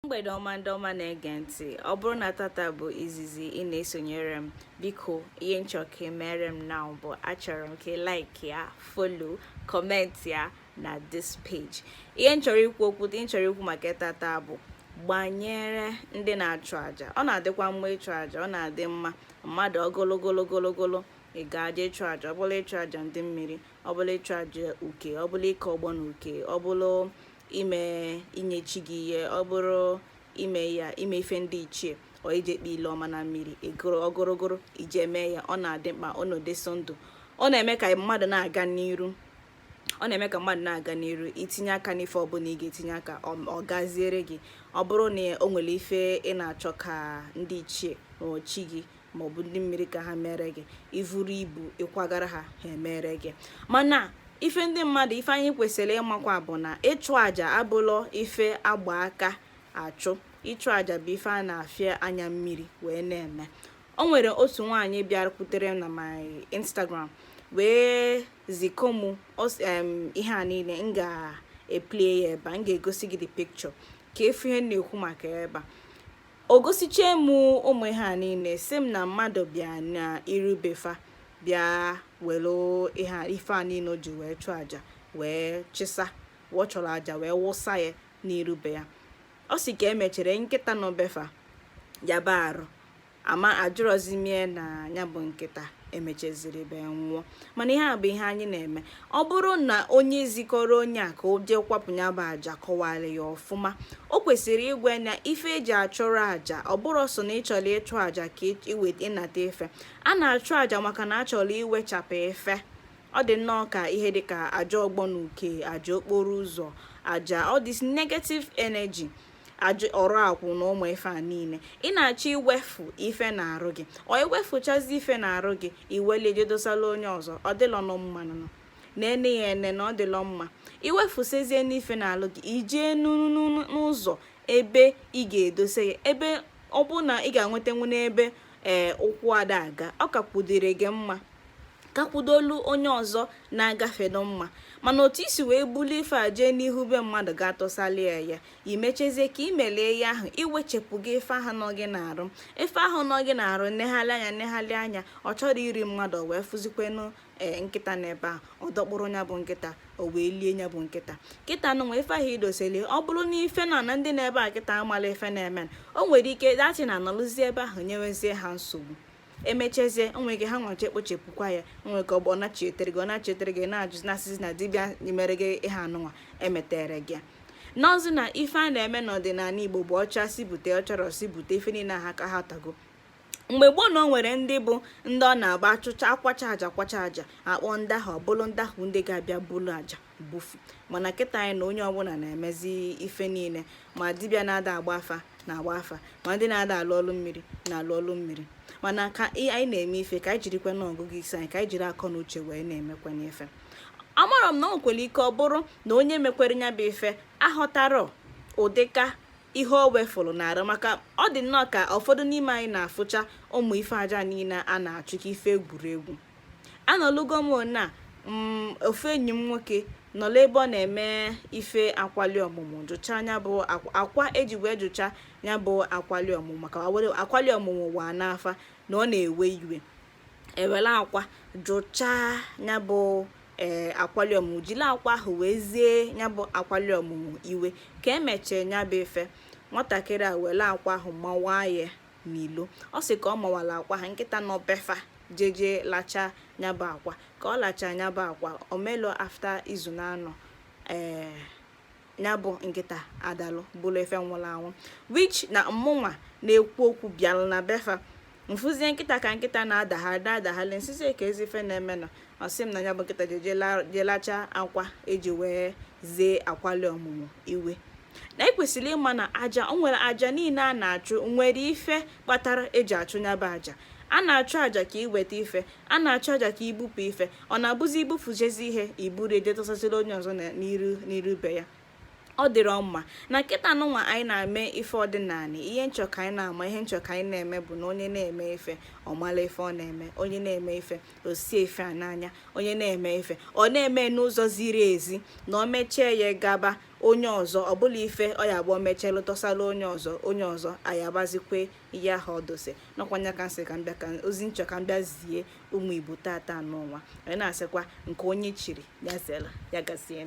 mgbede ọma ndị ọma na-ege ntị ọ bụrụ na tata bụ izizi ị na-esonyere m biko ihe m chọ ka e meere m na bụ achọrọ m ka like ya follow comment ya na this page ihe m chọrọ ikwu okwu dị m chọrọ ikwu maka tata bụ gbanyere ndị na-achụ aja ọ na-adịkwa mma ịchụ aja ọ na-adị mma mmadụ ogologologologolo ịga aja ịchụ aja ọ bụla ịchụ aja ndị mmiri ọ bụla ịchụ aja uke ọ bụla nke ọgbọ na uke ọ bụla ime inye chi gị ihe ọ bụrụ ime ya ime ife ndị ichie ọ ije kpa ile ọma na mmiri ịgụrụ ọgụrụgụrụ ije mee ya ọ na-adị mkpa ọ na-edozi ndụ ọ na-eme ka mmadụ na-aga n'iru ọ na-eme ka mmadụ na-aga n'iru itinye aka n'ife ọbụla ị ga-etinye aka ọ gaziere gị ọ bụrụ na o nwere ife ị na-achọ ka ndị ichie ma chi gị maọbụ ndị mmiri ka ha meere gị ivuru ibu ịkwagara ha ha emere gị mana ife ndị mmadụ ife anyị kwesịrị ịmakwa bụ na ịchụ àjà abụlọ ife a gba aka achụ ịchụ àjà bụ ife a na-afịa anya mmiri wee na-eme o nwere otu nwaanyị bịakwutere na my instagram wee ziko mụ ihe a niile m ga-eplay ya ebe a m ga-egosi gị the picture ka ị fụ ihe na-ekwu maka ebe a o gosichee m ụmụ ihe a niile sị m na mmadụ bịa na iru be fa bịa were ife a niile o ji wee chụọ aja wee chịsa ọ chụrụ aja wee wụsa ya n'iru be ya ọ sị ka emechere nkịta nọ be fa yaba arụ ama ajụrọzi m ya na ya bụ nkịta emecheziri be nwụọ mana ihe a bụ ihe anyị na-eme ọ bụrụ na onye zikọrọ onye a ka o jee kwapụ ya bụ aja kọwara ya ọfụma o kwesịrị ịgwa ya na ife eji achụrụ aja ọ bụrọ sọ na ịchọrọ ịchụ aja ka ịnata ife a na-achụ aja maka na achọrọ iwechapụ ife ọ dị nnọọ ka ihe dịka aja ọgbọ na uke aja okporo ụzọ aja all this negative energy aja ọrụ akwụ na ụmụ ife a niile ị na-achọ iwefu ife n'arụ gị ọ iwefuchazi ife n'arụ gị i welu jee dosala onye ọzọ ọ dịlọ nọ mma nọ na ene ya ene na ọ dịlọ mma iwefusezie n'ife n'arụ gị ijee n'ụzọ ebe ị ga-edose ya ebe ọ bụ na ị ga-enwetanwu n'ebe ee ụkwụ ada aga ọ kakwudịrị gị mma kakwudolu onye ọzọ na-agafe nụ mma mana otu i si wee bulie ife a jee n'ihu be mmadụ ga tọsalị ya imechezie ka i mere ya ahụ iwechepụ gị ife ahụ nọ gị n'arụ ife ahụ nọ gị n'arụ negharị anya negharị anya ọ chọrọ iri mmadụ wee fụzikwenu ee eh, nkịta n'ebe a ọ dọkpụrụ ya bụ nkịta o wee lie ya bụ nkịta kịta nụnwa ife ahụ i doseli ọ bụrụ na ife na na ndị n'ebe a kịta amarọ ife na-eme o nwere ike dachi na anọlụzi ebe ahụ nyewezie ha nsogbu emechezie onwe gị ha nwachi ekpochepụkwa ya onwe ka ọ bụ ọnachi etere gị ọnachi etere gị na-ajụzi na-asịzi na dibịa mere gị ihe anụnwa emeterọ gị n'ọzi na ife a na-eme n'ọdịnala igbo bụ ọcha si bute ọchọrọ si bute ife niile ha ka ha tago mgbe gboo na o nwere ndị bụ ndị ọ na-abụ achụcha akwacha aja kwacha aja akpọ ndị ahụ ọbụlụ ndị ahụ ndị ga-abịa bulu aja bufu mana kịta anyị na onye ọbụla na-emezi ife niile ma dibịa na-ada agba afa na-agba afa ma ndị na-ada alụ ọlụ mmiri na-alụ ọlụ mmiri mana ka anyị na-eme ife ka anyị jirikwanụ ọgụgụ isi anyị ka anyị jiri akọ na uche wee na-emekwanụ ife amarọ m na o nwekwere ike ọ bụrụ na onye mekwere nya bụ ife aghọtarọ ụdịka ihe o wefụrụ n'arụ maka ọ dị nnọọ ka ụfọdụ n'ime anyị na-afụcha ụmụ ife aja niile a na-achụ ka ife egwuregwu anọlugo m na mm, ofu enyi m nwoke nọla ebe ọ na-eme ife akwali ọmụmụ jụcha nya bụ akwa eji wee jụcha ya bụ akwali ọmụmụ maka akwali ọmụmụ wa n'afa na ọ na-ewe iwe ewere akwa jụchaa ya bụ ee akwali ọmụmụ jiri akwa ahụ wee zie ya bụ akwali ọmụmụ iwe ka emechee ya bụ ife nwatakịrị a were akwa ahụ mawaa ya n'ilo ọ sị ka ọ mawara akwa ahụ nkịta nọ be fa jeje lacha ya bụ akwa ka ọ lacha ya bụ akwa o melu afta izu na anọ ee ya bụ nkịta adalụ bụrụ ife nwụrụ anwụ wich na mmụnwa na-ekwu okwu bịalụ na be fa mfụzie nkịta ka nkịta na-adagharị na-adagharị nsịzi kezi ife na-eme na ọ sị m na ya bụ nkịta jelacha akwa eji wee zie akwali ọmụmụ iwe na ekwesịrị ịma na aja o nwere aja niile a na-achụ nwere ife kpatara eji achụ nya bụ aja a na-achụ aja ka iweta ife a na-achụ aja ka ibupụ ife ọ na-abụzi ibufuchezi ihe iburu je tọsaziri onye ọzọ n'iru n'iru be ya ọ dịrọ mma na kịta nụnwa anyị na-eme ife ọdịnala ihe nchọ ka anyị na-ama ihe nchọ ka anyị na-eme bụ na onye na-eme ife ọ mara ife ọ na-eme onye na-eme ife o sie ife a n'anya onye na-eme ife ọ na-eme n'ụzọ ziri ezi na o mechie ya gaba onye ọzọ ọ bụla ife ọ ya-abụ o mechelụ tọsara onye ọzọ onye ọzọ ayabazikwe ihe ahụ o dose na ọ kwa nya ka nsị ka mbịa ka ozi nchọ ka mbịa zie ụmụ igbo tata nụnwa anyị na-asịkwa nke onye chiri ya zela ya gazie